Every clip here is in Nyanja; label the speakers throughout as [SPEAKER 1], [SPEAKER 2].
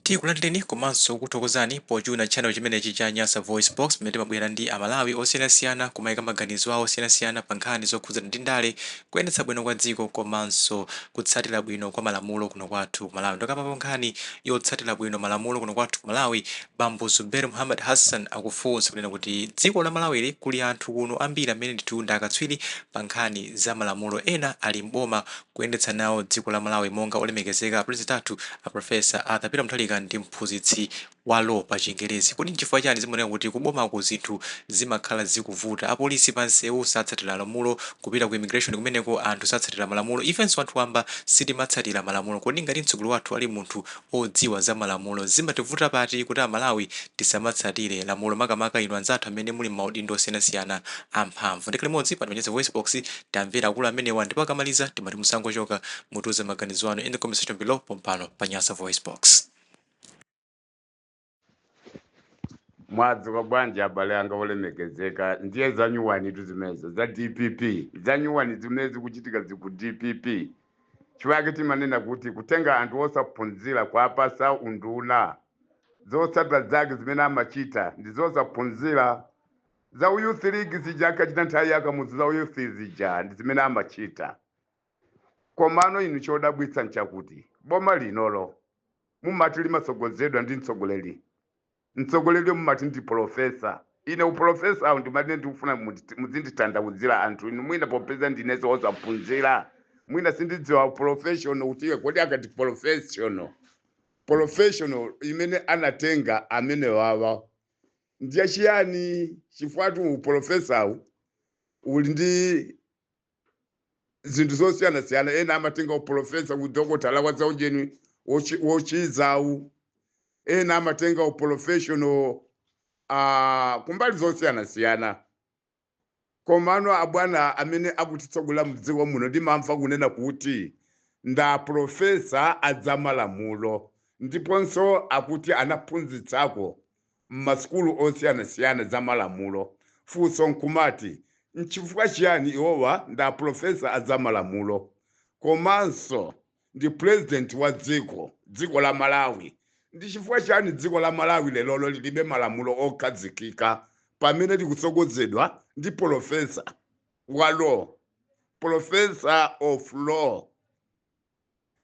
[SPEAKER 1] Tikulandireni komanso kuthokozani pochuna channel chimenechi cha Nyasa VoiceBox pamene timabwera ndi a Malawi osiyanasiyana kumaika maganizo awo osiyanasiyana pa nkhani zokhudzana ndi ndale, kuyendetsa bwino kwa dziko komanso kutsatira bwino kwa malamulo kuno kwathu ku Malawi. Tokambapo nkhani yotsatira bwino malamulo kuno kwathu ku Malawi, bambo Zubeir Muhammad Hassan akufunsa kunena kuti dziko la Malawili kuli anthu kuno ambiri amene ndithu ndi akatswiri pa nkhani za malamulo ena ali m'boma kuyendetsa nawo dziko la Malawi monga olemekezeka a Pulezidenti athu a Prof. Arthur Peter Mutharika ndi mphunzitsi wa Law pa chingerezi. Kodi nchifukwa chani zimaoneka kuti ku bomako zinthu zimakhala zikuvuta? Apolisi pa nsewu satsatila malamulo, kupita ku immigration kumeneko anthu satsatila malamulo, ifenso anthu wamba sitimatsatila malamulo. Kodi ngati mtsogoleri wathu ali munthu odziwa za malamulo. Zimativuta pati kuti amalawi tisamatsatire lamulo makamaka inu anzathu amene muli mmaudindo osiyanasiyana amphamvu. Ndikhale limodzi pano pa nyasa voicebox timvera akulu amenewa ndipo akamaliza timati musangochoka mutiuze maganizo anu in the comment section below pompano pa nyasa voicebox.
[SPEAKER 2] mwadzuka bwanji abale anga olemekezeka ndiye zanyuwanitu zimenezo za dpp zanyuwani zimene zikuchitika ziku dpp chifukwa chake timanena kuti kutenga anthu osaphunzira kuwapasa unduna zotsatira zake zimene amachita ndi zosaphunzira za uyuth league zija ankachita nthawi ya Kamuzu za uyuth zija ndi zimene amachita komano inu chodabwitsa nchakuti boma linolo mumati limatsogozedwa ndi mtsogoleri, mtsogoleriyo mumati ndi polofesa? Ine upolofesawu ndi umene ndikufuna mundi- muzinditanthauzira anthu inu, mwina popeza ndinenso wosaphunzira, mwina sindidziwa upolofeshono kuti kodi akati polofeshono polofeshono imene anatenga amenewawa ndiye chiyani? Chifukwatu upolofesawu uli ndi zinthu zosiyanasiyana ena amatenga upolofesa kudokotala wa zaujeni wochi- wochizawu ena amatenga uprofessional uh, kumbali zosiyanasiyana komano abwana amene akutitsogolera mdziko muno ndimamva kunena kuti nda profesa a zamalamulo ndiponso akuti anaphunzitsako m'masukulu osiyanasiyana za malamulo. Funso nkumati, nchifukwa chiyani iwowa ndi a Pulofesa a za malamulo komanso ndi Pulezidenti wa dziko, dziko la Malawi? Ndi chifukwa chiyani dziko la Malawi lerolo lilibe malamulo okhazikika pamene likutsogozedwa ndi Pulofesa wa Law, Pulofesa of Law?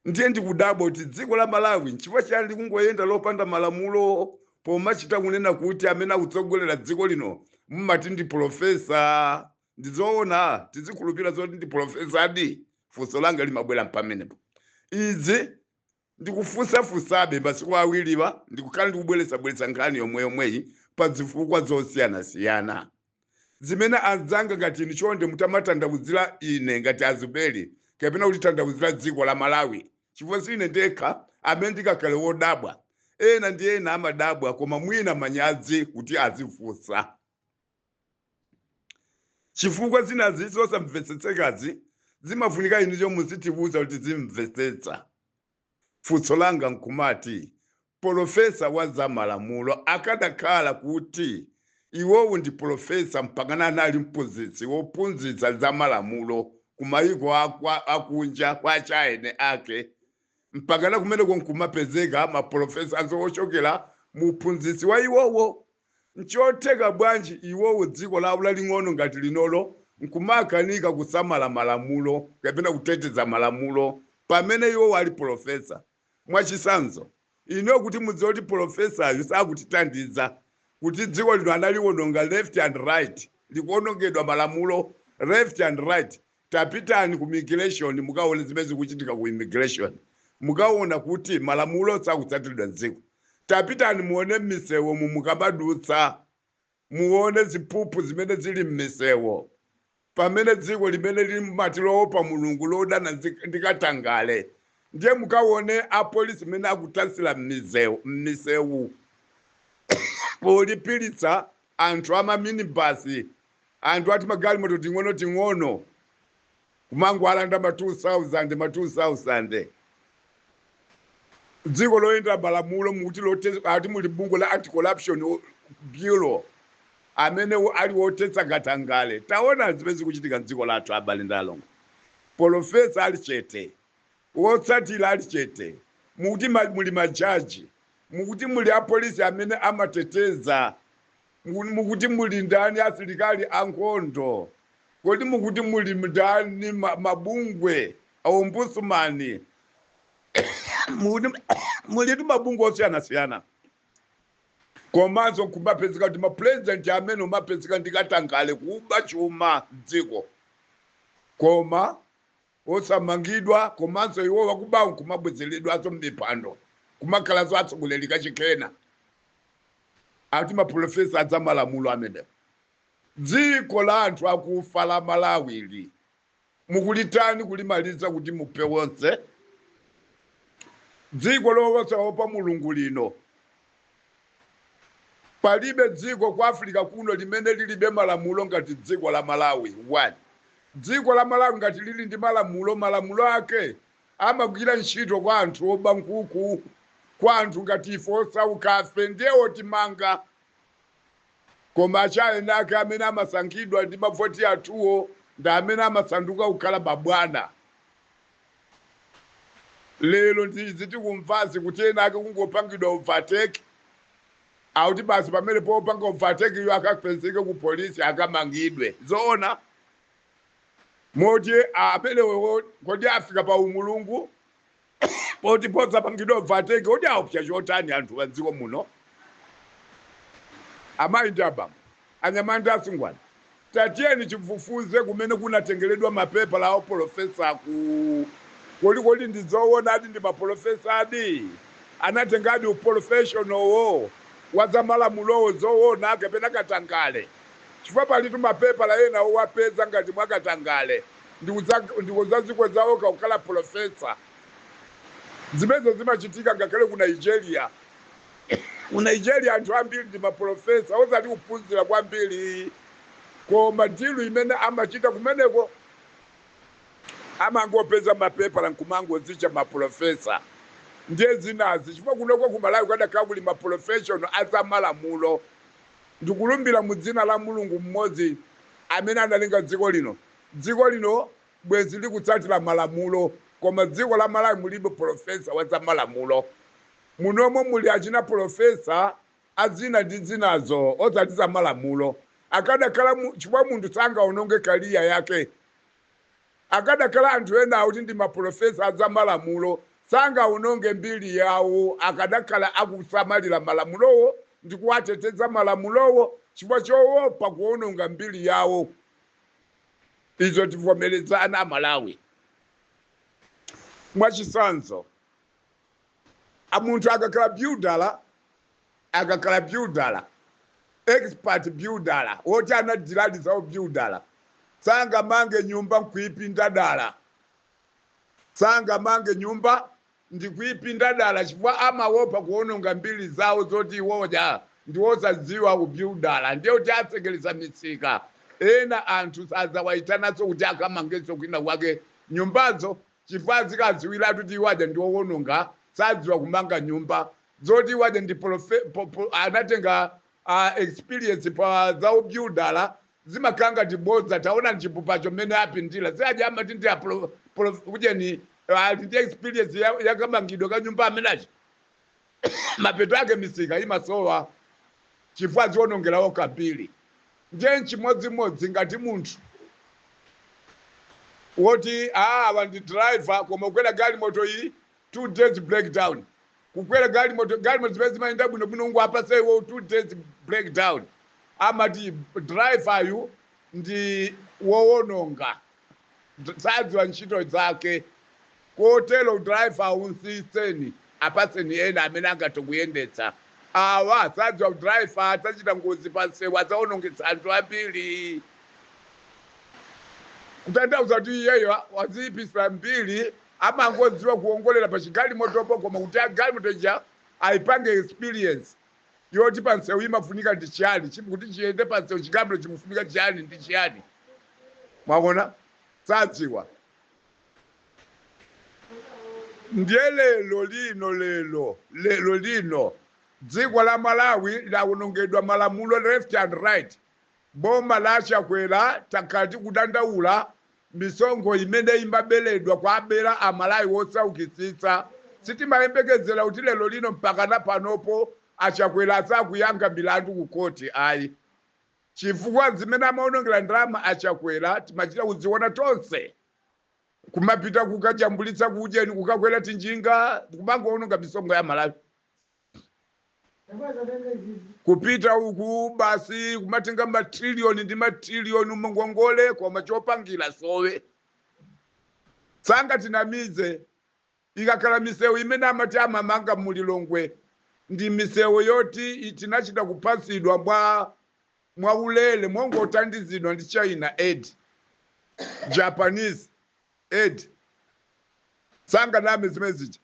[SPEAKER 2] ndiye ndikudabwa kuti dziko la malawi nchifukwa chiyani likungoyenda lopanda malamulo pomachita kunena kuti amene akutsogolera dziko lino mumati ndi pulofesa ndizoona tizikhulupira zoti ndi pulofesadi funso langa limabwera mpamenepo izi ndikufunsafunsabe masiku awiriwa ndikukhala ndikubwerezabwereza nkhani yomwe yomweyi pa zifukwa zosiyanasiyana zimene anzanga ngati inu chonde mutamatanthauzira ine ngati azuberi kapena kutitanthauzira dziko la malawi chifukwa si ine ndekha amene ndikakhale wodabwa ena ndi ena amadabwa koma mwina manyazi kuti azifunsa chifukwa zinazi zosamvetsetsekazi zimafunika inuyo muzitiuza kuti tizimvetsetsa Funso langa nkumati, polofesa wa za malamulo akadakhala kuti iwowo ndi polofesa mpakana anali mphunzitsi wophunzitsa za malamulo ku maiko akunja kwa achina eni ake, mpakana kumeneko nkumapezeka mapolofesanso ochokera mu uphunzitsi wa iwowo Nchotheka bwanji iwowo, dziko lawo laling'ono ngati linolo, nkumakanika kusamala malamulo kapena kuteteza malamulo, pamene iwowo ali polofesa? Mwachitsanzo, inuyo kuti mudziwe kuti polofesayu sakutithandiza, kuti dziko lino analiononga left and right, likuonongedwa malamulo left and right, Tapitani ku immigration mukaone zimene zikuchitika ku immigration. Mukaona kuti malamulo sakutsatiridwa m'dziko. Tapitani muone m'misewumu mukamadutsa. Muone ziphuphu zimene zili m'misewu. Pamene dziko limene lili mumati loopa Mulungu lodana ndi katangale. Ndiye mukaone apolisi mmene akutansira m'misewu polipiritsa anthu a ma minibus, anthu a timagalimoto ting'onoting'ono, kumangowalanda ma 2,000, ma 2,000. M'dziko loyendera malamulo mukuti ati muli bungwe la Anti-Corruption Bureau, amene ali wothetsa katangale. Taona zimene zikuchitika m'dziko lathu, abale ndi alongo. Polofesa ali chete, Wotsatira ali chete. Mukuti muli majaji, mukuti muli apolisi amene amateteza, mukuti muli ndani asilikali ankhondo, kodi mukuti muli ndani mabungwe a ombudsman, mulitu mabungwe osiyanasiyana komanso nkumapezeka kuti mapurezidenti amene akumapezeka ndi katangale kuba chuma m'dziko koma osamangidwa komanso iwo wakubawo nkumabwezeredwanso mmipando nkumakhalanso atsogoleri kachikena ati mapulofesa a zamalamulo amenewo dziko la anthu akufa la malawi ili mukulitani kulimaliza kuti muphe wonse dziko losaopa Mulungu lino Palibe dziko ku Africa kuno limene lilibe malamulo ngati dziko la Malawi 1. Dziko la Malawi ngati lili ndi malamulo, malamulo ake amagwira ntchito kwa anthu oba nkhuku, kwa anthu ngati ife osaukafe ndiye otimanga. Koma achina enaake amene amasankhidwa ndi mavoti athuwo ndi amene amasanduka kukhala mabwana. lero ndi izi tikumvazi kuti ena ake kungopangidwa overtake akuti basi pamene popanga overtake iyo akapezeke ku polisi akamangidwe zoona moti amenewa kodi afika pa umulungu poti posapangidwa overtake kodi aopsa chotani anthu a dziko muno amayi ndi abambo anyamata asungwana Tatiyeni tifufuze kumene kunatengeredwa ma pepala a upolofesa ku. Kodi kodi ndi zoonadi ndi ma polofesadi? Anatengadi upolofeshonowo wa za malamulowo zoona kapena katangale? Chifukwa palitu ma pepala ena owapeza ngati mwa katangale ndi kudza ndi kudzadzikweza okha kukhala polofesa. Zimenezo zimachitika ngakhale ku Nigeria. Ku Nigeria anthu ambiri ndi mapulofesa, osati kuphunzira kwambiri, koma deal imene amachita kumeneko amangopeza mapepala nkumangodzitcha mapulofesa ndiye zinazi, chifukwa kunoko ku Malawi kukadakhala kuli maprofessional a zamalamulo, ndikulumbira mu dzina la Mulungu mmodzi amene analenga dziko lino, dziko lino bwenzi likutsatira malamulo, koma dziko la Malawi mulibe pulofesa wa zamalamulo. Munomo muli achina polofesa a zina ndi zinazo osati za malamulo. Akadakhala mu, chifukwa munthu sangaononge career yake. Akadakhala anthu ena akuti ndi ma polofesa a za malamulo sangaononge mbiri yawo akadakhala akusamalira malamulowo ndi kuwateteza malamulowo chifukwa choopa kuononga mbiri yawo. Izo tivomerezana a Malawi. Mwa chitsanzo. A munthu akakhala byudala, akakhala byudala, expert byudala, woti anadiladi za ubyudala, sangamange nyumba n'kuipinda dala, sangamange nyumba ndi kuipinda dala chifukwa amaopa kuwononga mbiri zawo zoti iwo aja ndi osadziwa ubyudala ndiye kuti atsekereza misika, ena anthu sadzawaitananso kuti akamangenso kwinakwake nyumbazo. chifukwa azikadziwilatu kuti iwo aja ndi owononga sadziwa kumanga nyumba zoti iwo aja ndi profe- po- po- anatenga uh, experience pa za ubyudala zimakhala ngati bodza taonani chipupacho mmene apindira si aja amati ndi apro- pro- kujeni ali ndi experience ya- yakamangidwe ka nyumba chimenechi mapeto ake misika imasowa chifukwa adziwonongera okha mbiri ndiye nchimodzimodzi ngati munthu woti "Ah, awa ndi driver koma kukwera galimoto iyi two days breakdown kukwera galimoto galimoto zimene zimayenda bwino bwino kungowapatsa iwo two days breakdown amati driver yu ndi wowononga sadziwa ntchito zake kotero driver mutsitseni apatseni ena amene angathe kuyendetsa awa sadziwa udriver adzachita ngozi pa msewu adzawonongetsa anthu ambiri kutanthauza kuti iyeyo waziyipisa mbiri amangodziwa kuwongolera pa chigalimotopo koma kuti agalimoto ija ayipange experience yoti pa msewu imafunika ndi chiyani chip- kuti chiyende pa msewu chigalimoto chimafunika chiyani ndi chiyani mwaona sadziwa ndiye lero lino lero lero lino dziko la malawi lawonongedwa malamulo left and right Boma la achakwera takhala tikudandaula misonkho imene imabeledwa kuwabela amalawi osaukitsitsa sitimayembekezela kuti lero lino mpakana panopo achakwera asakuyankha milandu ku court ayi chifukwa zimene amaonongela ndalama achakwera timachita kuziona tonse kumapita kukajambulitsa kuujeni kukakwera tinjinga kumangoononga misonkho ya malawi kupita uku basi kumatenga matriliyoni ndi matriliyoni mungongole koma chopangira sowe sangatinamize ikakhala misewu imene amati amamanga mulilongwe ndi misewu yoti i- tinachita kupatsidwa mwa mwaulere mongothandizidwa ndi china aid japanese aid sanganame zimene zija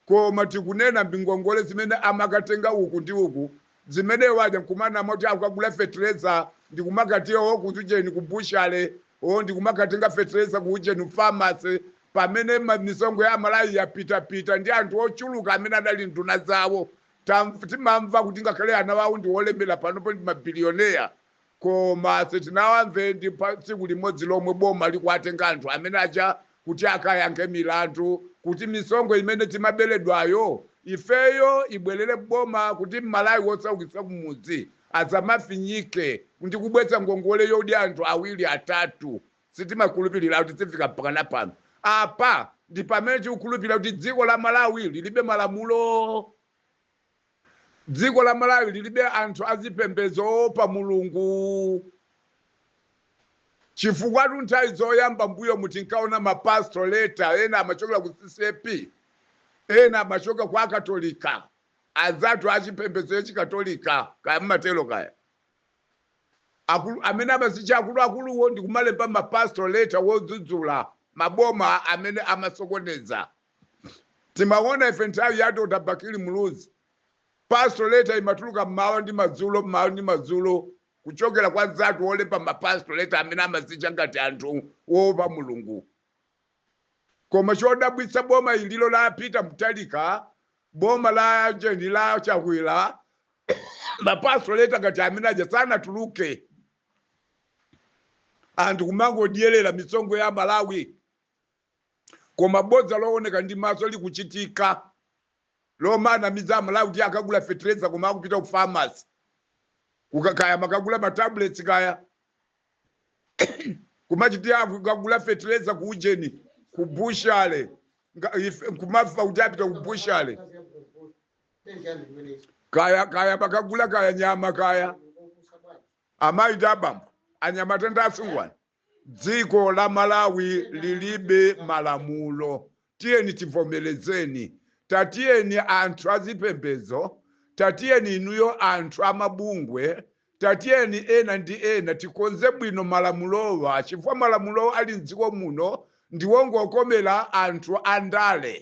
[SPEAKER 2] Koma tikunena m'ngongole zimene amakatenga uku ndi uku zimene aja nkumanama kuti akagula fetereza ndi kumakati awo ku ujeni ku butchery wo ndi kumakatenga fetereza ku ujeni ku pharmacy pamene ma, misonkho ya Malawi yapitapita ndi anthu ochuluka amene adali nduna zawo. Tamv, timamva kuti ngakhale ana awo ndi olemera panopo ndi mabilioneya. Koma sitinawamve ndi pa tsiku limodzi lomwe boma likuwatenga anthu amene aja kuti akayankhe milandu kuti misonkho imene timabeledwayo ifeyo ibwelere boma kuti m'Malawi wosaukitsa kumudzi asamafinyike ndi kubweza ngongole yodya anthu awiri atatu. Sitimakhulupilira kuti tifika mpakana pano. Apa ndi pamene tikukhulupilira kuti dziko la Malawi lilibe malamulo. Dziko la Malawi lilibe anthu azipembedzo oopa Mulungu. Chifukwatu nthawi zoyamba mbuyomu tinkaona ma pastoral letter ena amachokera ku CCAP, ena amachokera kwa Akatolika, anzathu achipembedzo cha Chikatolika kaya mmatero kaya. Akulu amene amazitcha akuluakuluwo ndi kumalemba ma pastoral letter odzudzula maboma amene amasokoneza timaona ife nthawi ya dr bakili muluzi pastoral letter imatuluka mmawa ndi madzulo mmawa ndi madzulo kuchokera kwa anzathu olemba ma pastoral letter amene amazitcha ngati anthu oopa mulungu koma chodabwitsa boma ililo la peter mutharika boma la ujeni la chakwera ma pastoral letter ngati amene aja sanatuluke anthu kumangodyerera misonkho ya malawi koma bodza looneka ndi maso likuchitika lomanamiza amalawi kuti akagula fetereza koma akupita ku pharmacy kukakaya amakagula matablets kaya kumatinso akagula fetereza ku ujeni ku butchery nga- ife- kumamva kuti apita ku butchery kaya kaya amakagula kaya nyama kaya amayi ndi abambo anyamata ndi asungwana Dziko la Malawi lilibe malamulo tiyeni tivomelezeni tatiyeni anthu azipembedzo tatiyeni inuyo anthu amabungwe tatiyeni ena ndi ena tikonze bwino malamulowa chifukwa malamulo ali mdziko muno ndiwongokomela anthu andale.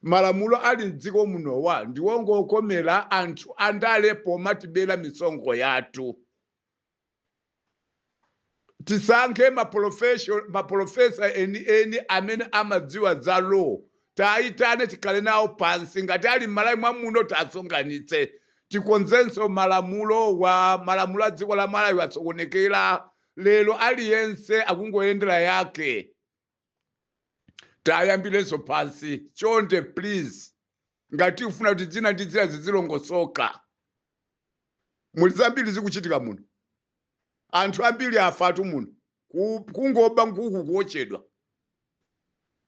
[SPEAKER 2] Malamulo ali m'dziko munowa ndiongokomela anthu andale pomatibela misonkho yathu. Tisankhe ma profession, ma professor eni eni amene amadziwa za law tiayitane tikhale nawo pansi ngati ali m'Malawi mwa muno tiasonkhanitse tikonzenso malamulowa, malamulo a dziko la Malawi asokonekela lero aliyense akungoyendela yake. tayambirenso pansi chonde please ngati ufuna kuti zina ndi zina zizilongosoka muli zambiri zikuchitika muno anthu ambiri afatu muno kungoba nkuku kuochedwa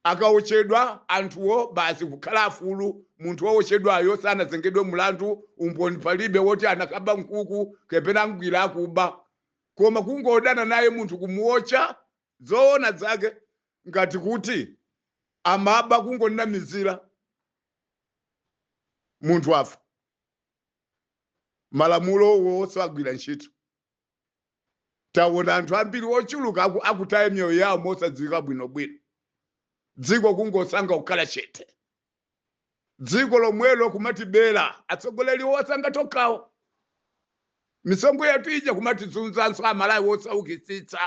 [SPEAKER 2] akaochedwa anthuwo basi kukhala afulu munthu waochedwayo sanazengedwe mlandu umboni palibe woti anakaba nkuku kapena wagwidwa akuba koma kungodana naye munthu kumuocha Zoona zake ngati kuti amaba kungonamizira munthu afa malamulowo osagwira ntchito taona anthu ambiri ochuluka akutaya miyoyo yawo mosadziwika bwinobwino dziko kungosankha kukhala chete dziko lomwelo kumatibera atsogoleri osankha tokhawo misonkho yathu ija kumatizunzanso amalawi osaukitsitsa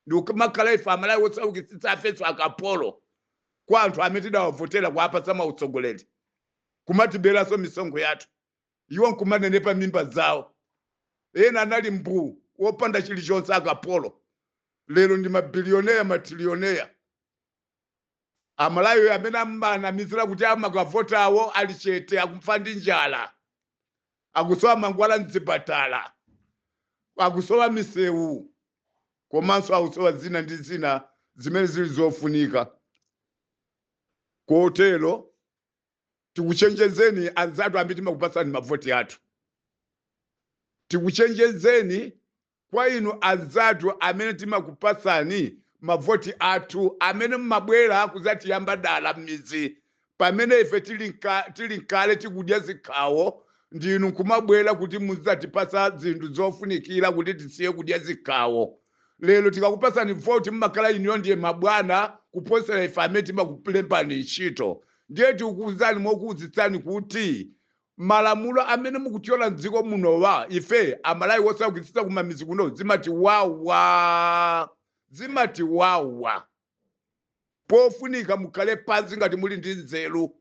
[SPEAKER 2] ndikumakhala ife amalawi osaukitsitsa ifenso akapolo kwa anthu amene tidawavotera kuwapatsa mautsogoleri kumatiberanso misonkho yathu iwo nkumanenepa mimba zawo ena anali mbuu wopanda chilichonse akapolo lero ndi mabiliyoneya matilioneya Amalawi amene amanamizira kuti amakavotawo ali chete akufa ndi njala, akusowa mankhwala m'zipatala, akusowa misewu komanso akusowa zina ndi zina zimene zili zofunika. Kotero tikuchenjezeni anzathu amene timakupatsani mavoti athu, tikuchenjezeni kwa inu anzathu amene timakupatsani mavoti athu, amene mumabwera kudzatiyamba dala m'midzi pamene ife tili nkale tikudya zikhawo ndi inu nkumabwera kuti mudzatipatsa zinthu zofunikira kuti tisiye kudya zikhawo. Lero tikakupatsani voti mumakhala inuyo ndiye mabwana kuposera ife amene timakulembani ntchito. Ndiye tikukuuzani mokuuzitsani kuti Malamulo amene mukutyola mdziko munowa ife amalawi wosaukitsitsa kumamizi kuno zimatiwawa zimatiwawa pofunika mukhale pansi ngati muli ndi nzeru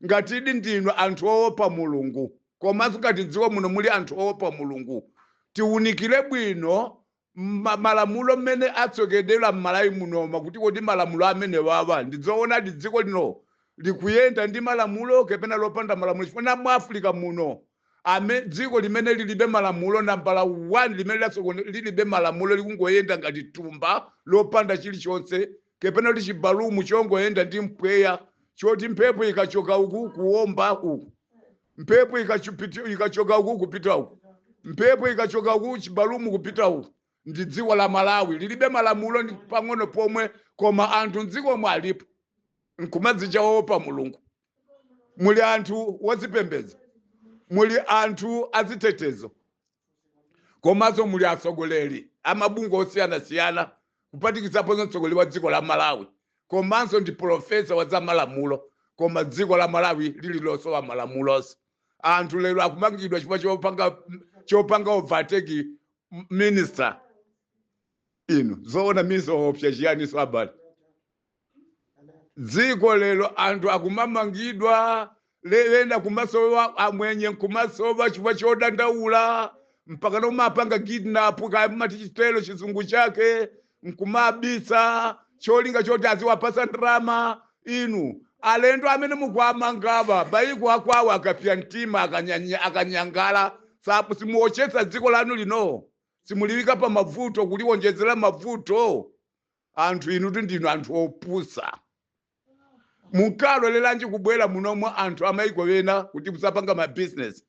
[SPEAKER 2] ngatidi ndinu anthu owopa mulungu komanso ngati mdziko muno muli anthu owopa mulungu tiwunikire bwino malamulo mmene asokedwera mmalawi munoma kuti kodi malamulo amenewawa ndizoonadi dziko lino likuyenda ndi malamulo kapena lopanda malamulo chifukwa mu africa muno ame dziko limene lilibe malamulo nambala 1 limene latsogone lilibe malamulo likungoyenda ngati thumba lopanda chilichonse kapena kuti chibalumu chongoyenda ndi mpweya choti mphepo ikachoka uku kuomba uku mphepo ikachoka uku kupita uku mphepo ikachoka uku chibalumu kupita uku ndi dziko la malawi lilibe malamulo ndi pang'ono pomwe koma anthu mdzikomo alipo nkumadzicha oopa mulungu muli anthu azipembedzo muli anthu azitetezo komanso muli atsogoleri amabungwe osiyanasiyana kupatikizaponso mtsogoleri wa dziko la malawi komanso ndi polofesa wa za malamulo koma dziko la malawi lili losowa malamulonso anthu lero akumangidwa chifukwa chopanga overtake minister inu zoona mukuopsa chiyaniso abale dziko lero anthu akumamangidwa ena kumasowa amwenye nkumasowa chifukwa chodandaula mpaka kumapanga kidnap kaya mumati chotero chizungu chake nkumabisa cholinga choti aziwapatsa ndalama inu alendo amene mukuwamangawa maiko akwawo akapsa mtima akanyanyala apo simuochetsa dziko lanu lino simuliyika pa mavuto kuliwonjezera mavuto anthu inutu ndinu anthu opusa munkaloleranji kubwera muno anthu amaiko ena kuti kudzapanga ma business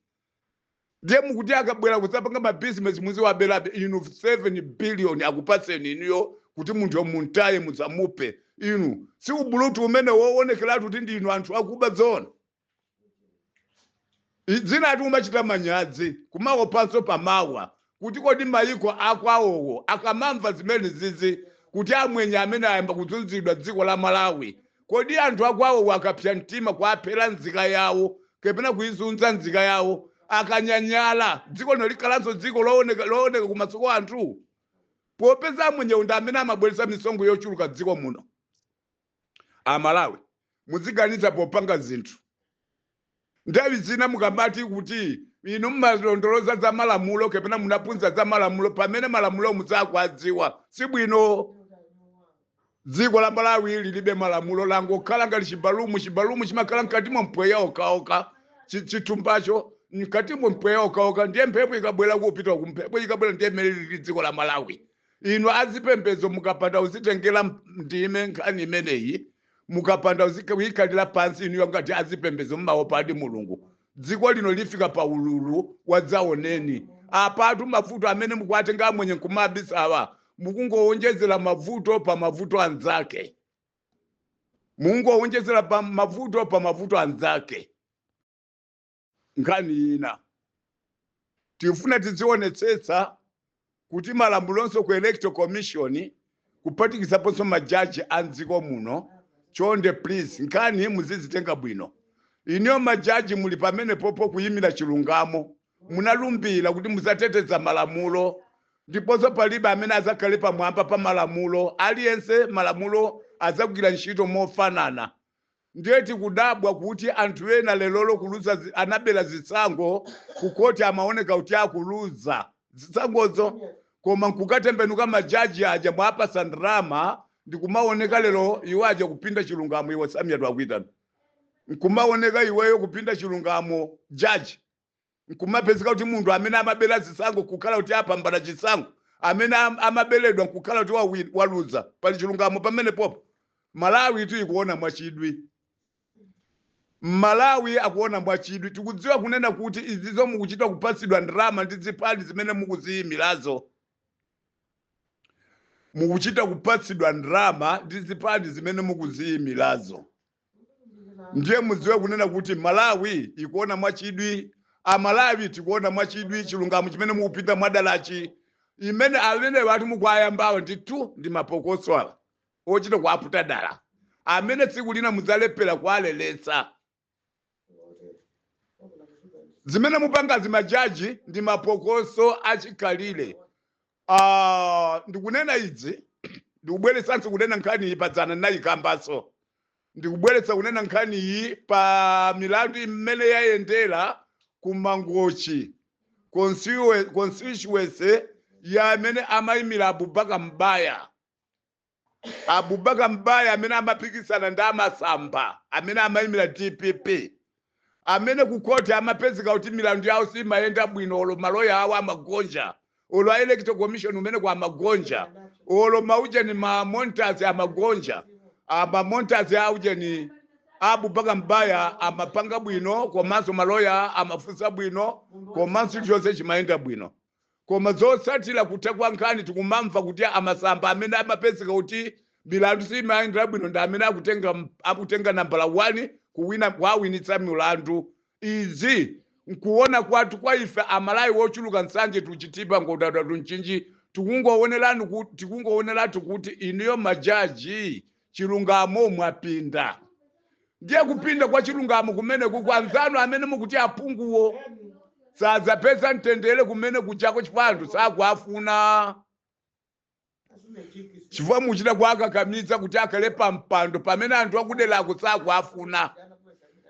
[SPEAKER 2] ndiye mukuti akabwera kudzapanga ma business muziwaberabe inu 7 billion akupatseni inuyo kuti munthuyo mumutaye musamuphe inu si ubulutu umenewo kuonekeratu kuti ndinu anthu akuba zoona zinatu kumachita manyazi kumaopanso pamawa kuti kodi mayiko akwawowo akamamva zimenezizi kuti amwenye amene ayamba kuzunzidwa dziko la malawi kodi anthu akwawowo akapsa mtima kuaphera nzika yawo kapena kuizunza nzika yawo akanyanyala dziko lino likhalanso dziko looneka kumaso kwa anthu popeza amwenyewo ndi amene amabweretsa misonkho yochuluka dziko muno amalawi muziganiza popanga zinthu nthawi zina mukamati kuti inu mmalondoloza za malamulo kapena munaphunzira za malamulo pamene malamulo musakuwadziwa si bwino dziko la malawi lilibe malamulo langokhala ngati chibalumu chimakhala mkati mwa mpweya wokhawokha chithumbacho mkati mwa mpweya wokhawokha ndiye mphepo ikabwera kupita uku mphepo ikabwera ndiye mmene lili dziko la malawi inu azipembedzo mukapanda kuzitengera ndime nkhani imeneyi mukapanda kuyikhalira pansi inuyo ngati azipembedzo mumawopadi mulungu dziko lino lifika pa ululu wadzaoneni apatu mavuto amene mukuwatenga amwenye nkumabisawa mukungowonjezera mavuto pa mavuto anzake mukungowonjezera pa mavuto pa mavuto anzake Nkhani ina, Tikufuna tidzionetsetsa kuti malamulonso ku Electoral Commission kuphatikizaponso ma judge a m'dziko muno, chonde please nkhani muzizitenga bwino. Inuyo ma judge muli pamenepopo kuyimira chilungamo, munalumbira kuti mudzateteza malamulo ndiponso palibe amene adzakhale pamwamba pa malamulo, aliyense malamulo adzagwira ntchito mofanana. Ndiye tikudabwa kuti anthu ena lerolo kuluza anabera zisankho ku court amaoneka kuti akuluza zisankhozo koma nkukatembenuka ma judge aja mwapatsa ndalama ndikumaoneka lero iwo aja kupinda chilungamo iwe samia twakuitana nkumaoneka iweyo kupinda chilungamo judge nkumapezeka kuti munthu amene amabera zisankho nkukhala kuti apambana chisankho amene am- amaberedwa nkukhala kuti wawi- waluza pali chilungamo pamenepopo malawitu ikuona mwachidwi mmalawi akuona mwachidwi tikudziwa kunena kuti izizo mukuchita kupatsidwa ndalama ndi zipani zimene mukuziyimirazo mukuchita kupatsidwa ndalama ndi zipani zimene mukuziyimirazo ndiye mudziwe kunena kuti malawi ikuona mwachidwi amalawi tikuona mwachidwi chilungamo chimene mukupinda mwadalachi imene amenewatu mukuwayambawo ndithu ndi mapokoso ochita kuwaputa dala amene tsiku lina mudzalephera kuwaleretsa zimene mupangazi majaji ndi mapokoso achikhalire Ah, ndikunena izi ndikubweretsanso kunena nkhani iyi padzana ndinayikambanso ndikubweretsa kunena nkhani iyi pa milandu imene yayendera ku mangochi constitu- constituency ya amene amayimira Abubakar Mbaya Abubakar Mbaya amene amapikisana ndi a Masamba amene amayimira dpp amene ku khoti amapezeka kuti milandu yawo simayenda bwino olo maloya awo amagonja olo a electoral commission kumeneko amagonja olo maujeni ma monitors amagonja ama monitors aujeni Abubakar Mbaya amapanga bwino komanso maloya amafunsa bwino komanso chonse chimayenda bwino Koma zotsatira kutha kwa nkhani tikumamva kuti a masamba amene amapezeka kuti milandu simawayendera bwino ndi amene akutenga akutenga nambala 1 kuwina kuwawinitsa milandu. Izi nkuona kwathu kwa ife amalawi ochuluka Nsanje to Chitipa Nkhotakota to Mchinji tikungowonerani kuti tikungowoneratu kuti inuyo majaji chilungamo mwapinda ndiye kupinda kwa chilungamo kumene kukwanzanu amene mukuti aphunguwo sadzapeza mtendere kumene kuchako chifukwa anthu sakuafuna chifukwa muchita kuakakamiza kuti akhale pa mpando pamene anthu akuderako sakuafuna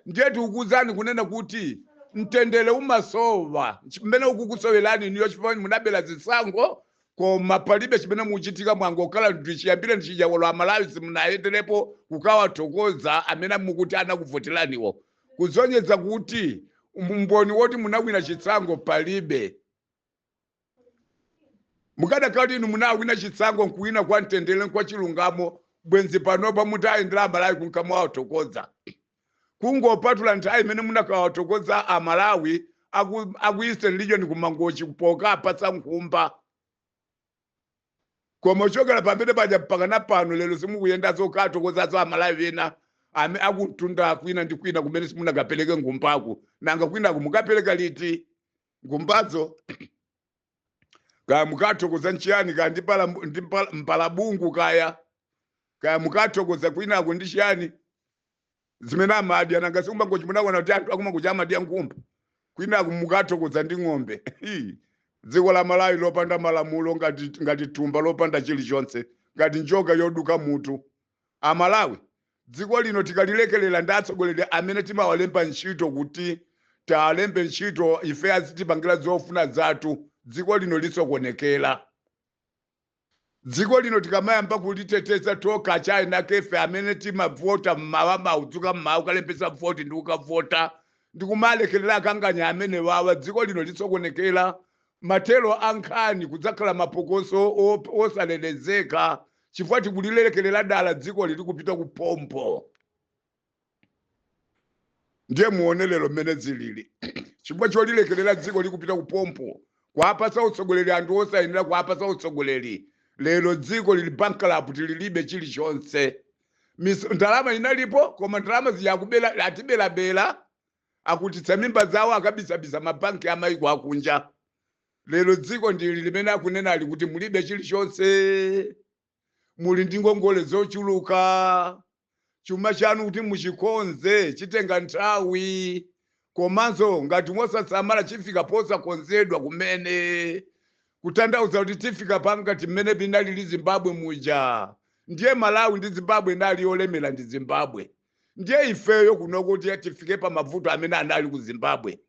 [SPEAKER 2] ndiye tikukuuzani kunena kuti mtendere umasowa chimene ukukusowerani n'iyo chifukwa munabera zisankho Koma palibe chimene muchitika mwangokhala ndi chiyambireni chija olo amalawi simunayenderepo kukawathokoza amene mukuti anakuvoteraniwo kusonyeza kuti umboni woti munawina chisankho palibe mukadakhala inu munawina chisankho nkuwina kwa mtendere nkwa chilungamo bwenzi panopa mutayendera amalawi kunkamawathokoza kungopatula nthawi imene munakawathokoza a Malawi aku, aku Eastern Region ku Mangochi pokaapatsa nkhumba koma kuchokera pamene paja mpakana pano lero simukuyenda zokathokozazo amalawi ena ame akumtunda kwina ndi kwina kumene simunakapereke nkhumbaku nanga kwinaku mukapereka liti nkhumbazo kaya mukathokoza nchiyani kaya ndi pala- ndi pala- mpalabungu kaya kaya mukathokoza kwinako ndi chiyani zimene amadya nanga si ku Mangochi munaona kuti anthu aku Mangochi amadya nkhumba kwinako mukathokoza ndi ng'ombe Hii. dziko la malawi lopanda malamulo ngati ngati thumba lopanda chilichonse ngati njoka yoduka mutu A Malawi, dziko lino tikalilekelela ndi atsogoleri amene timawalemba ntchito kuti tialembe ntchito ife azitipangila zofuna zathu dziko lino lisokonekela. Dziko lino tikamayamba kuliteteza tokha enieni akefe amene timavota m'mawa kudzuka m'mawa kukalembetsa voti ndi kukavota ndi kumalekelela akanganya amenewawa dziko lino lisokonekela mathero a nkhani kudzakhala mapokoso osalelezeka chifukwa tikulilekelera dala dzikoli likupita ku phompho ndiye muone lero mmene zilili chifukwa cholilekelera dziko likupita ku phompho kuapatsa utsogoleri anthu osayenera kuapatsa utsogoleri lero dziko lili bankrupt lilibe chilichonse Mis- ndalama inalipo koma ndalama zija akubera atiberabera akhutitsa mimba zawo akabisabisa mabanki amaiko akunja lero dziko ndili limene akunenali kuti mulibe chilichonse muli ndi ngongole zochuluka chuma chanu kuti muchikonze chitenga nthawi komanso ngati musasamala chifika posakonzedwa kumene kutanthauza kuti chifika pa ngati mmene inalili zimbabwe muja ndiye malawi ndi zimbabwe inali yolemera ndi zimbabwe ndiye ifeyo kuno kuti tifike pa mavuto amene anali ku zimbabwe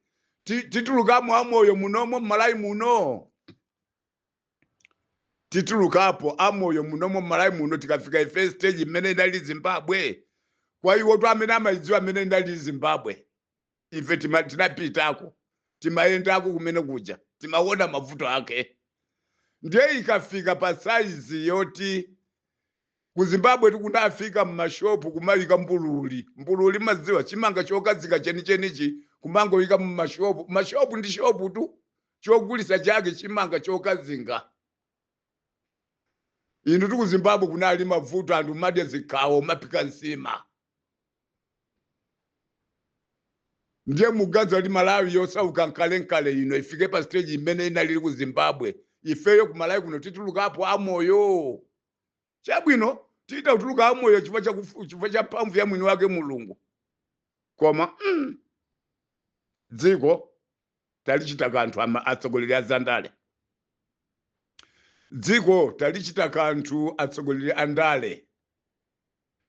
[SPEAKER 2] Ti- titulukamo amoyo munomo mmalawi muno titulukapo amoyo munomo mmalawi muno tikafika ife stage imene inali zimbabwe kwa iwo tu amene amayidziwa amene inali zimbabwe ife tima- tinapitako timayendako kumene kuja timaona mavuto ake ndiye ikafika pa saizi yoti ku zimbabwe kunafika mmashopu kumayika mbululi mbululi maziwa chimanga chokazinga chenichenichi kumangoyika mmashopu mashopu ndi shopu tu chogulisa chake chimanga chokazinga inu tu ku zimbabwe kunali mavuto anthu madya zikhawo kumaphika nsima ndiye muganiza Mali malawi yosauka kalekale ino ifike pa stage imene inalili ku zimbabwe ifeyo ku malawi kuno titulukapo amoyo chabwino tichita kutuluka amoyo chifukwa cha kufu- chifukwa cha mphamvu ya mwini wake mulungu koma mm, dziko talichita kanthu ama atsogoleri a zandale dziko talichita kanthu atsogoleri a ndale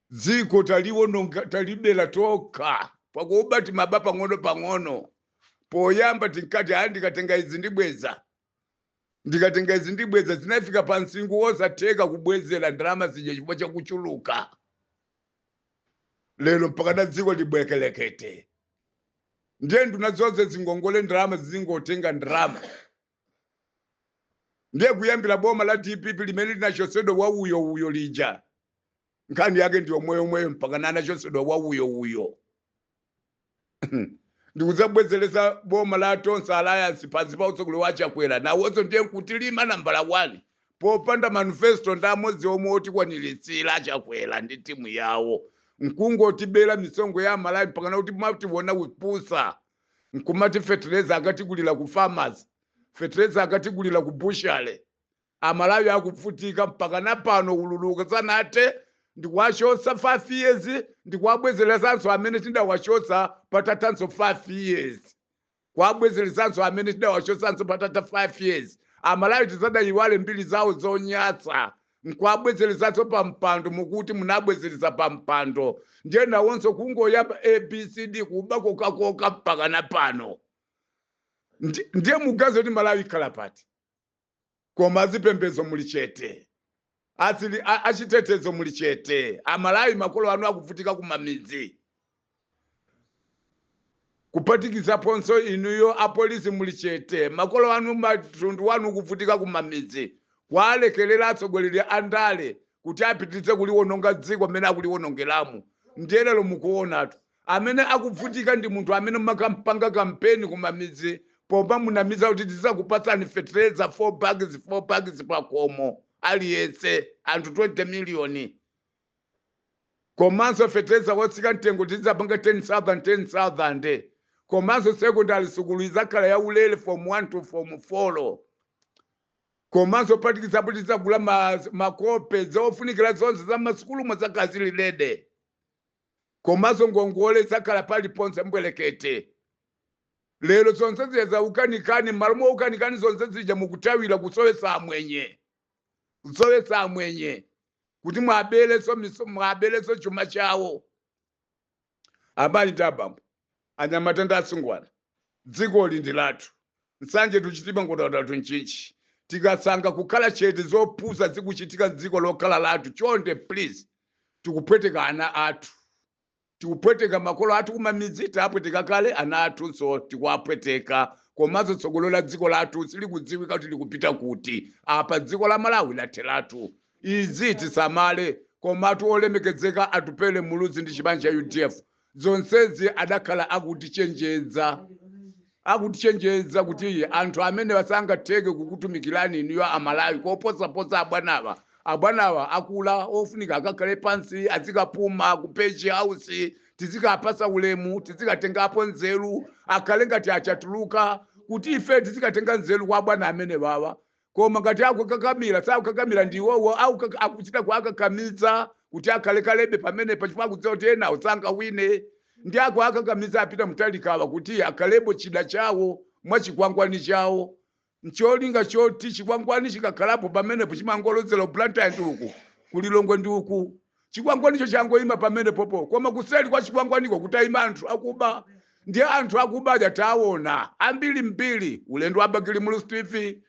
[SPEAKER 2] dziko taliwononga talibera tokha pakuba timaba pang'ono pang'ono poyamba tinkati aya ndikatenga izi ndibweza ndikatenga izi ndibweza zinafika pa msinkhu wosatheka kubwezera ndalama zija chifukwa chakuchuluka lero mpaka na dziko libwekelekete ndiye nduna zonse zingongole ndalama zizingotenga ndalama ndiye kuyambira boma la dpp limene linachotsedwa wauyouyo lija nkhani yake ndi yomweyomweyo mpakana anachotsedwa wauyouyo ndikudzabwezeretsa boma la tonse alliance pansi pa utsogoleri wa chakwera nawonso ndiye nkutilima nambala 1 popanda manifesto ndi amodzi omwe otikwaniritsira a chakwera ndi timu yawo nkungotibera misonkho ya amalawi mpakana kumationa kupusa nkumati fetereza akatigulira ku farmers fetereza akatigulira ku bushale Amalawi akubvutika mpakana pano ululu usanathe ndikuwachotsa 5 years ndikuwabwezeletsanso amene tidawachotsa patathanso 5 years kuwabwezeletsanso amene tidawachotsanso patatha 5 years amalawi tisadayiwale mbiri zawo zonyasa nkuwabwezeletsanso pampando mukuti munabwezeletsa pampando ndiye nawonso kungoyamba abcd kuba kokhakokha mpakana pano Ndi- ndiye muganiza kuti malawi ikhala pati koma azipembedzo muli chete, achitetezo muli chete amalawi makolo anu akuvutika kumamidzi kupatikizaponso inuyo apolisi muli chete makolo anu mtundu wanu ukuvutika kumamidzi kuwalekerera atsogoleri a ndale kuti apitirize kuliwononga dziko mmene akuliwonongeramu ndiye lero mukuonatu Amene akubvutika ndi munthu amene mumakampanga kampeni kumamidzi pomamunamiza kuti tizakupatsani fetereza 4 bags 4 bags pakomo aliyense anthu 20 million komanso fetereza wotsika mtengo tizapanga 10,000 10,000 komanso secondary sukulu izakhala ya ulele form 1 to form 4 komanso phatikizapo tizagula ma, makope zofunikira zonse za masukulu muzakhala zilidede komanso ngongole zizakhala paliponse mbwelekete lero zonse zija zakukanikani mmalo mwakukanikani zonse zija mukuthawira kusowesa amwenye kusowesa amwenye kuti mwabelenso miso- mwabelenso chuma chawo amayi ndi abambo anyamata ndi asungwana dzikoli ndi lathu nsanje tikuchita pangodya zitatu nchinchi tikasankha kukhala chete zopusa zikuchitika dziko lokhala lathu chonde please tikupweteka ana athu tikupweteka makolo athu kumamidzi tapweteka kale ana athunso tikuwapweteka komanso tsogolo la dziko lathu silikudziwika kuti likupita kuti apa dziko la malawi latheratu izi tisamale komatu olemekedzeka atupele muluzi ndi chipani cha udf zonsezi adakhala akutichenjeza akutichenjeza kuti anthu amenewa sangatheke kukutumikirani inuyo amalawi koposaposa abwanawa abwanawa akula ofunika akakhale pansi azikapuma ku page house tizikawapasa ulemu tizikatengapo nzeru akhale ngati achatuluka kuti ife tizikatenga nzeru kwa abwana amenewawa Koma ngati akukakamira, sakukakamira ndi iwowo, akukak- akuchita kuwakakamiza kuti akhalekalebe pamenepa chifukwa akudziwa kuti enawo sangawine ndi akuwakakamiza a Peter Mutharikawa kuti akhalebe chida chawo mwa chikwangwani chawo ncholinga choti chikwangwani chikakhalapo pamenepo chimangolozera blantyre ndi uku kulilongwe ndi uku Chikwangwanicho changoima pamenepopo, koma kuseri kwa chikwangwaniko kutaima anthu akuba. Ndiye anthu akuba aja taona ambiri mbiri, ulendo wa Bakili Muluzi TV,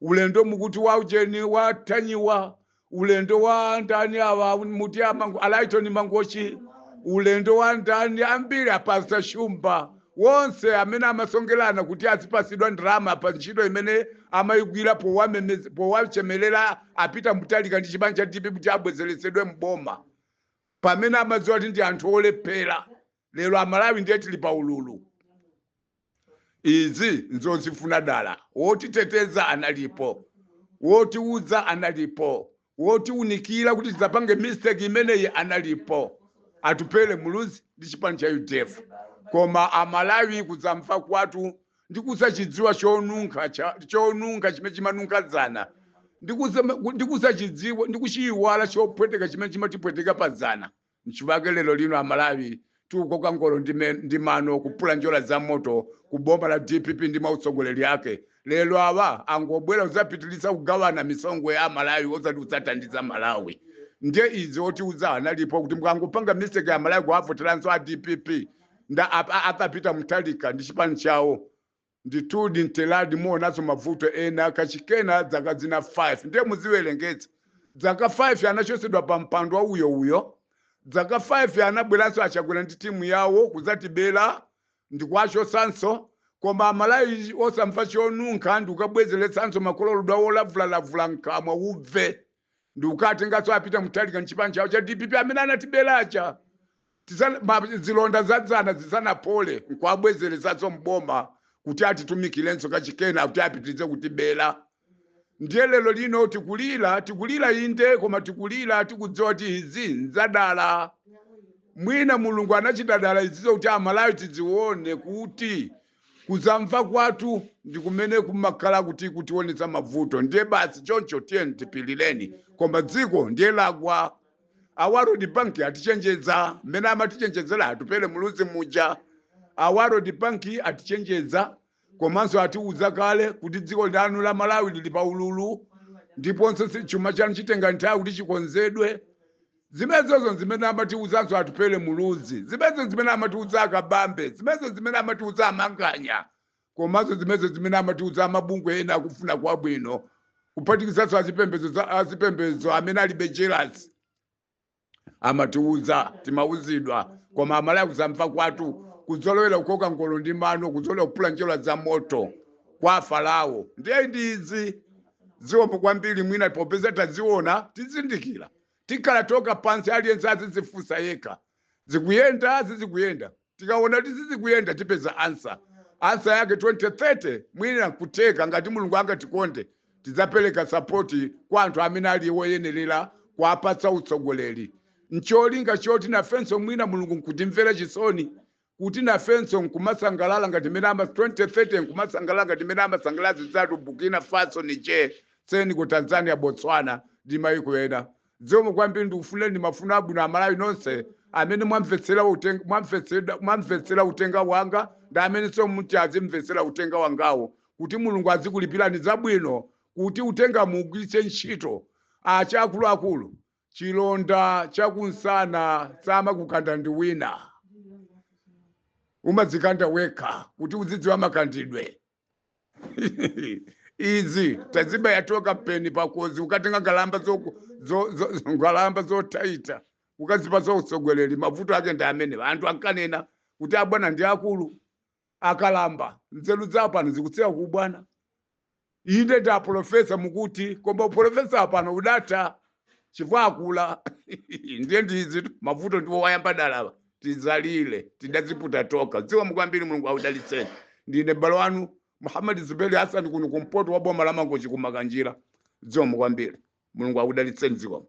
[SPEAKER 2] ulendo mukuti wa ujeni wa Ntanyiwa, ulendo wa ndani awa muti a Lyton Mangochi, ulendo wa ndani ambiri a Pastor Shumba. Wonse amene amasonkelana kuti azipasidwa ndalama pa ntchito imene amayigwira powachemelera a Peter Mutharika ndi chipani cha dpp kuti abwezeletsedwe m'boma pamene amadziwa kuti ndi anthu olephela lero amalawi ndiye tili pa ululu izi nzozifuna dala wotiteteza analipo wotiuza analipo Wotiunikila kuti tisapange mistake imeneyi analipo Atupele Muluzi ndi chipani cha udf koma a Malawi kusamva kwatu ndi kusachidziwa chonunkha chonunkha chimene chimanunkha dzana ndi kusachidziwa ndi kuchiyiwala chopweteka chimene chimatipweteka pa dzana. Nchiwake lero lino a Malawi tikukoka ngolo ndi, me, ndi mano kupula njerwa za moto ku boma la dpp ndi ma utsogoleri ake. Lero awa angobwera kudzapitilitsa kugawana misonkho ya Malawi osati kudzathandiza Malawi. Ndiye izi otiuza analipo kuti mukangopanga mistake a Malawi kuwavoteranso a dpp nda ap- a- a Peter Mutharika ndi chipani chawo. Ndithudi Mtheradi muonanso mavuto ena kachikena dzaka zina 5 ndiye mudziwerengetsa dzaka 5 anachosedwa pa mpando wa uyo uyo dzaka 5 anabweranso achakwera ndi timu yawo kudzatibera ndikuwachosanso koma amalawi osamva chonunkha ndikukabwezeretsanso mankholo ludwa wolavulalavula mkamwa uve ndikukatenganso a Peter Mutharika nchipani chawo cha dpp amene anatibera aja Tiza- ma- zilonda za dzana zisanapole nkuwabwezeretsanso mboma kuti atitumikirenso kachikena kuti apitirize kutibera ndiye lero lino tikulira tikulira inde koma tikulira tikudziwa kuti izi nzadala mwina mulungu anachita dala izizo kuti amalawi tidzione kuti Kusamva kwathu ndi kumene kumakhala kuti kutionetsa mavuto ndiye basi choncho tiyeni tipilireni koma dziko ndiye lagwa. A World Bank atichenjedza mmene amatichenjedzera Atupele Muluzi muja. A World Bank atichenjedza komanso atiuza kale kuti dziko lanu la Malawi lili pa ululu ndiponso si- chuma chanu chitenga nthawi kuti chikonzedwe. Zimezozo nzimene amatiuzanso Atupele Muluzi, zimezo nzimene amatiuza a Kabambe, zimezo nzimene amatiuza a Manganya komanso zimezo nzimene amatiuza a mabungwe ena akufuna kwabwino kuphatikizanso azipembedzo za- azipembedzo amene alibe jelasi amatiuza timauzidwa koma amalawi kusamva kwatu kuzolowera kukoka ngolo ndi mano kuzolowera kupula njerwa za moto kwa a Farao ndiye ndi izi ziwombo kwambiri mwina popeza taziona tizindikira Tikhala tokha pansi aliyense azidzifunsa yekha. Zikuyenda? Sizikuyenda. Tikawona kuti sizikuyenda tipeza answer. Answer yake 2030 mwina nkutheka ngati Mulungu angatikonde tidzapeleka support kwa anthu amene ali woyenerera kuwapatsa utsogoleri ncholinga choti nafenso mwina Mulungu nkutimvera chisoni kuti nafenso n'kumasangalala ngati mmene ama 2030 n'kumasangalala ngati mmene amasangalala anzathu Burkina Faso, Niger, Senegal, Tanzania, Botswana ndi mayiko ena. Zikomo kwambiri ndikufunireni mafuno abwino Amalawi nonse amene mwamvetsera uteng- mwamvetsera- mwamvetsera uthenga wanga ndi amenenso muti azimvetsera uthenga wangawu kuti Mulungu adzakulipirani zabwino kuti uthenga muugwiritse ntchito ati akuluakulu chilonda cha kumsana samakukanda ndi wina umadzikanda wekha kuti uzidziwa makandidwe izi tazibaya tokha mpeni pakozi ukatenga nkhalamba zoku- zo- zo- zo- nkhalamba zothaitha ukazipatsa utsogoleri mavuto ake ndi amenewa anthu ankanena kuti abwana ndi akulu akalamba, nzeru zawo pano zikutsikira ku ubwana. Inde ndi apolofesa mukuti, koma upolofesa wapano udatha chifukwa akula. Ndiye ndi izi mavuto ndi awa ayamba kalewa tizalira tidaziputa tokha zikomo kwambiri Mulungu akudalitseni ndine m'bale wanu Muhammad Zuberi Hassan kuno kumpoto kwa boma la Mangochi ku Makanjira zikomo kwambiri Mulungu akudalitseni zikomo